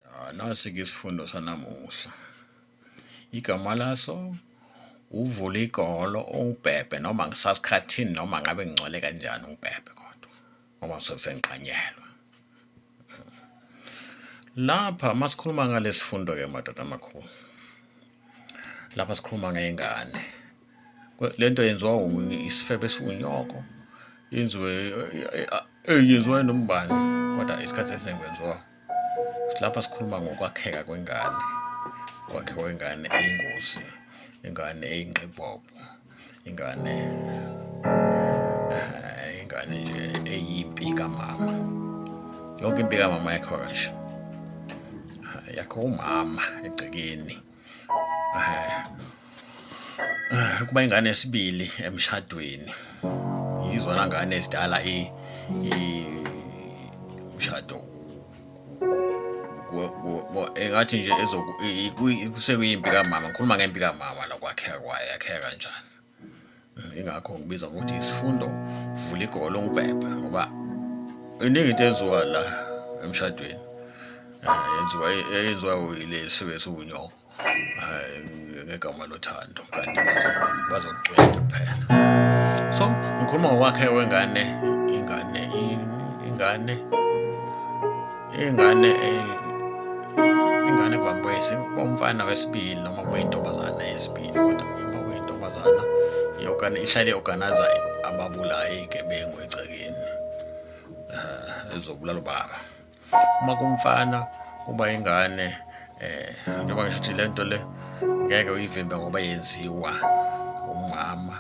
Ah, Nasi-ke isifundo sanamuhla. Igama laso uvule igolo ungibhebhe noma ngisasikhathini noma ngabe ngingcwele kanjani ungibhebhe kodwa ngoba ngisuke sengiqanyelwe. Lapha masikhuluma ngalesifundo-ke madoda amakhulu. Lapha sikhuluma ngey'ngane lento yenziwa isifebe esiwunyoko yenziwe yenziwa nombani kodwa isikhathi esiningi kwenziwa lapha sikhuluma ngokwakheka kwengane kwakhiwa ingane eyingozi ingane eyinqibhobho ingane eh, ingane nje eyimpi kamama yonke impi kamama yakho kanje yakho umama egcekeni kuba ingane esibili emshadweni yizona ngane ezidala umshado engathi nje sekuyimpi kamama ngikhuluma ngempi kamama lokwakheka kwayo yakheka kanjani ingakho ngibiza ngokuthi isifundo vula igolo ngibhebhe ngoba iningi into enziwa la emshadweni eh, yenziwa yenziwa uyile sibe siwunyoko eh, ngegama lothando kanti bazogcwela kuphela so ngikhuluma ngokwakhe wengane ingane ingane Ingane eh, ingane kuvame kwesi umfana wesibili noma kube intombazana yesibili kodwa uma kuyintombazana iyokana ihlale organizer ababulayi igebengu egcekeni eh, ezobulala ubaba uma kumfana kuba ingane eh njengoba ngisho ukuthi lento le ngeke uyivimbe ngoba yenziwa umama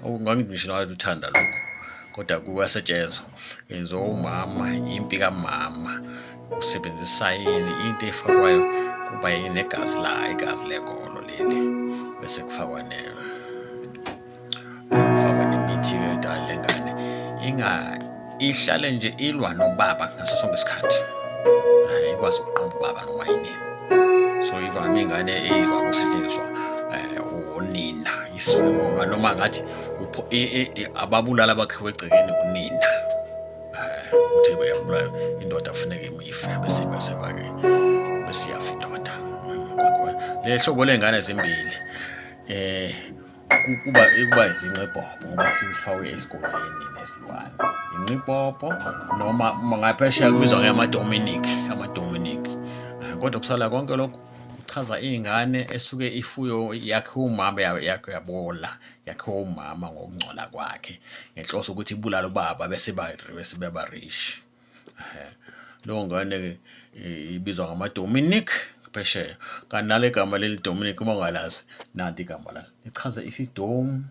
okungangithi ngisho nawe uthanda lokho kodwa kuyasetshenzwa yenziwa umama impi kamama usebenzisa yini into efakwayo kuba yinegazi la igazi legolo leli bese kufakwa ne kufakwa nemithi yedala lengane inga ihlale nje ilwa nobaba ngaso sonke isikhathi ikwazi ukuqamba ubaba noma yini so ivame ingane eyivame ukusetshenziswa eh, unina isifungo noma ngathi ababulala abakhiwe egcekeni unina eh, uthi bayabulala indoda funeka imife bese bese bake besiyafa indoda le hlobo lengane zimbili eh kuba ikuba izinqibhobo ngoba ifakwe esikoleni nesilwane inqibhobo noma ngaphesheya kubizwa ngeyamadominic amadominic eh, kodwa kusala konke lokho kuchaza iy'ngane esuke ifuyo yakhe umama yakhe yabola yakhiwa umama ngokungcola kwakhe ngenhloso ukuthi ibulala ubaba bese bese beba rich leyo ngane ibizwa ngamadominic phesheya kanti nale gama leli dominic uma ungalazi nanti igama la lichaza isidomu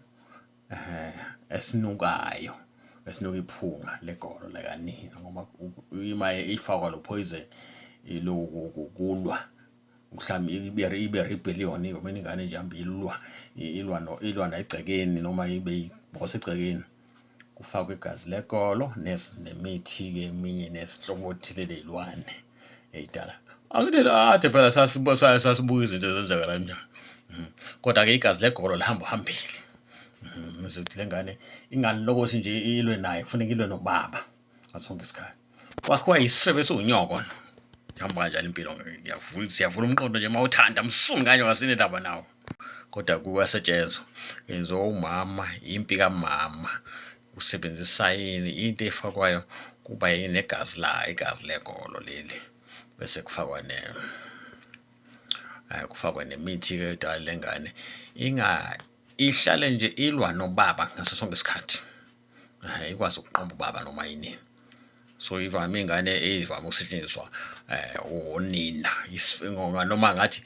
um esinukayo esinuka iphunga legolo lakanina ngoba imaye ifakwa lo poison iloku kulwa mhlawumbe ibe ibe rebellion noma ingane nje hambe ilwa ilwa no ilwa negcekeni noma ibe ibhosa egcekeni kufakwa igazi lekolo nemithi ke eminye nesinhlobo othile lezilwane eyidala angithele athe phela sasibuka sasibuka izinto ezenzeka la mnyango hmm. kodwa ke igazi legolo lihamba hambile hmm. ngizothi lengane ingalokothi nje ilwe naye kufuneka ilwe nobaba ngaso sonke isikhathi kwakhiwa yisifebe esiwunyoko no ihamba kanjani impilo siyavula umqondo nje uma uthanda msuni kanye ngasine ndaba nawo kodwa kuyasetshenzwa yenziwa umama impi kamama usebenzisa yini into efakwayo kuba yini egazi la igazi legolo leli bese kufakwa ne eh, kufakwa nemithi ke dala lengane inga ihlale nje ilwa nobaba ngaso sonke isikhathi ikwazi ukuqamba ubaba noma yinini so ivame ingane eyivame ukusetshenziswa um unina noma ngathi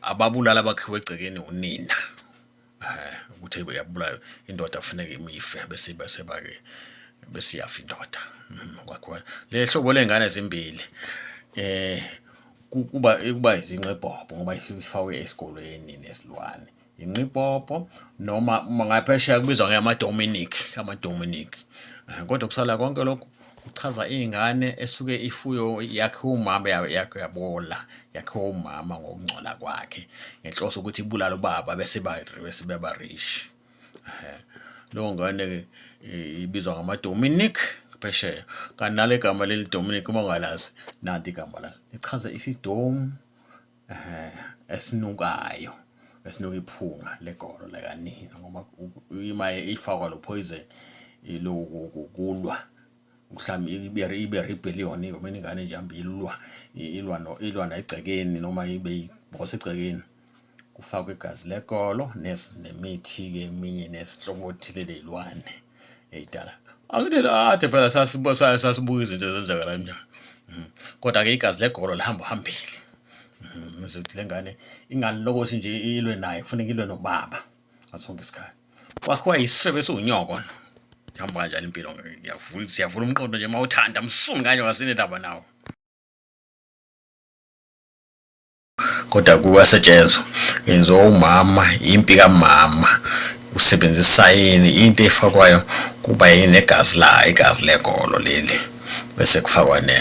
ababulala abakhiwe egcekeni unina um ukuthi yabulayo indoda kufuneka imife bese bese-ke bese iyafa indoda mm, kwakhiwa le hlobo ley'ngane zimbili um kuba kuba izinqebhobho ngoba ifakwe esikolweni nesilwane inqipopo noma ngaphesheya kubizwa ngeyamadominic amadominic eh, kodwa kusala konke lokhu kuchaza iy'ngane esuke ifuyo yakhe umama yakhe yabola yakhe umama ngokungcola kwakhe ngenhloso ukuthi ibulala ubaba bese bese bebarish eh, leyo ngane ibizwa ngamadominic phesheya kanti nale gama leli dominic uma ungalazi nanti igama layo lichaza isidomu esinukayo esinuka iphunga legolo lakanina ngoba ima ifakwa lo poison ilokulwa mhlawumbe ibe ibe rebellion noma ingane nje hambe ilwa ilwa no ilwa negcekeni noma ibe ibhosa egcekeni kufakwa igazi legolo nemithi ke eminye nesihlobo othile lezilwane eyidala angithi ade phela sasibusayo sasibuka izinto ezenzeka la mnyango mhm. kodwa ke igazi legolo lihamba uhambile mhm. ngizokuthi le ngane ingane lokothi nje ilwe naye kufuneka ilwe nobaba ngasonke isikhathi kwakhiwa yisifebe esiwunyoko ihamba kanjani impilo siyavula umqondo nje uma uthanda msumi kanye wasinendaba nawo kodwa kuyasetshenzwa yenziwa umama impi kamama usebenzisa yini into efakwayo kuba yini egazi la igazi legolo leli bese kufakwa ne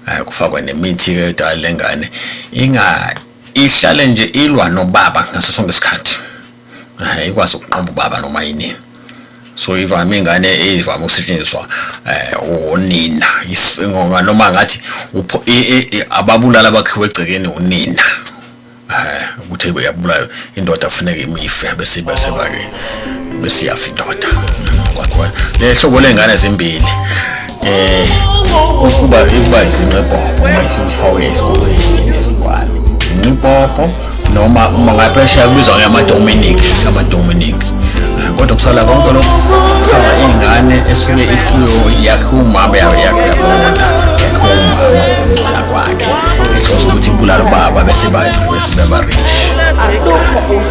eh, kufakwa nemithi ke dala lengane inga ihlale nje ilwa nobaba ngaso sonke isikhathi eh, ikwazi ukuqamba ubaba noma yinini so ivame ingane eyivame ukusetshenziswa eh unina isingonga noma ngathi ababulala bakhiwe egcekeni unina eh ukuthi uyabulala indoda kufuneka imife bese ibe sebake bese iyafa indoda kwakho lehlobo lengane ezimbili eh ukuba ikuba izinqebo mayihlufa uyesikoleni nezingwane inqibopho noma uma ngaphesheya kubizwa ngeyamadominic amadominic kodwa kusala konke lokho chaza ingane esuke ifuyo yakhe umama yayo yakhe yabona yakhe umama kwakhe ukuthi ibulala ubaba bese bathi bese baba rich